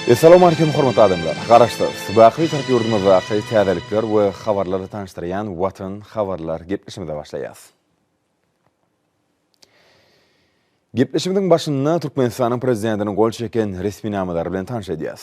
Essalamu Aleýkum hormatly adamlar! Garaşsyz, baky Türk ýurdumyzdaky täzelikler we habarlary tanyşdyrýan Watan habarlar gepleşimize başlaýas. Gepleşimiziň başynda Türkmenistanyň Prezidentiniň gol çeken resminamalary bilen tanyş edýäs.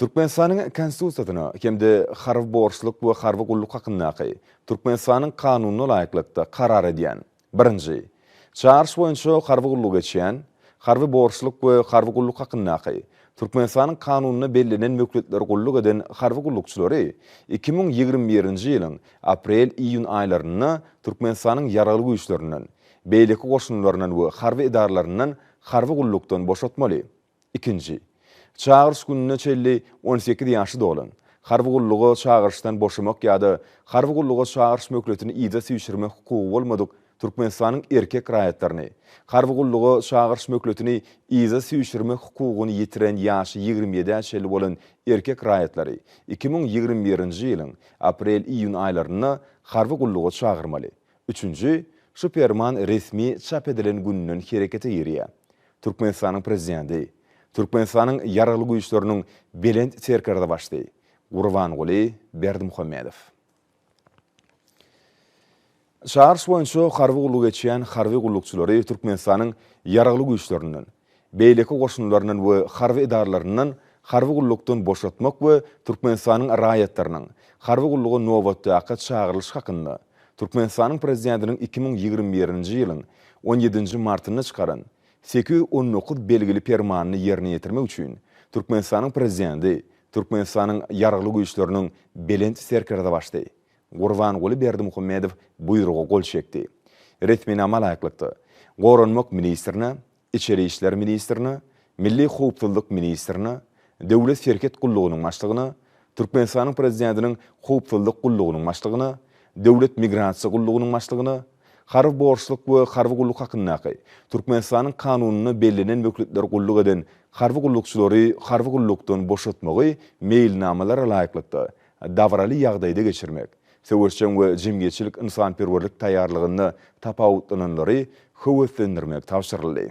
Türkmenistanyň Konstitusiýasyna hem-de Harby borçluk we harby gulluk hakyndaky Türkmenistanyň Kanunyna laýyklykda karar edýän, birinji, çagyryş boýunça harby gullugy geçýän, Harby borçluk we harby gulluk hakyndaky Türkmenistanyň Kanunyna bellenen möhletler gulluk eden harby gullukçylary iki müň ýigrimi birinji ýylyň aprel-iýun aýlarynda Türkmenistanyň Ýaragly Güýçlerinden, beýleki goşunlaryndan we harby edaralaryndan harby gullukdan boşatmaly. Ikinji. Çagyryş gününe çenli on sekiz ýaşy dolan, harby gulluga çagyryşdan boşamak ýa-da harby gulluga çagyryş möhletini yza süýşürmek hukugy bolmadyk Türkmenistanyň erkek raýatlaryny, harby gulluga çagyryş möhletini yza süýşürmek hukugyny ýitiren ýaşy ýigrimi ýedä çenli bolan erkek raýatlary iki müň ýigrimi birinji ýylyň aprel-iýun aýlarynda harby gulluga çagyrmaly. Üçünji, şu Perman resmi çap edilen günden herekete girýär. Türkmenistanyň Prezidenti, Türkmenistanyň Ýaragly Güýçleriniň Belent Serkerdebaşdy Gurbanguly Berdimuhamedow. Çagyryş boýunça harby gulluk geçýän harby gullukçylary Türkmenistanyň Ýaragly Güýçlerinden, beýleki goşunlaryndan we harby edaralaryndan harby gullukdan boşatmak we Türkmenistanyň raýatlarynyň harby gulluga nobatdaky çagyrylyşy hakynda Türkmenistanyň Prezidentiniň iki müň ýigrimi birinji ýylyň on ýedinji martynda çykaran sekiz ýüz on dokuz belgili Permanyny ýerine ýetirmek üçin Türkmenistanyň Prezidenti Türkmenistanyň Ýaragly Güýçleriniň Belent Serkerdebaşdy Gurbanguly Berdimuhamedow buýruga gol çekdi. Resminama laýyklykda, Goranmak ministrine, Içeri işler ministrine, Milli howpsuzlyk ministrine, Döwlet serhet gullugynyň başlygyna, Türkmenistanyň Prezidentiniň Howpsuzlyk gullugynyň başlygyna, Döwlet migrasiýa gullugynyň başlygyna, Harby borçluk we harby gulluk hakyndaky Türkmenistanyň Kanunynda bellenen möhletler gulluk eden harby gullukçylary harby gullukdan boşatmagy meýilnamalara laýyklykda dabraly ýagdaýda geçirmek, söweşjeň we jemgyýetçilik-ynsanperwerlik taýýarlygynda tapawutlananlary höweslendirmek tabşyryldy.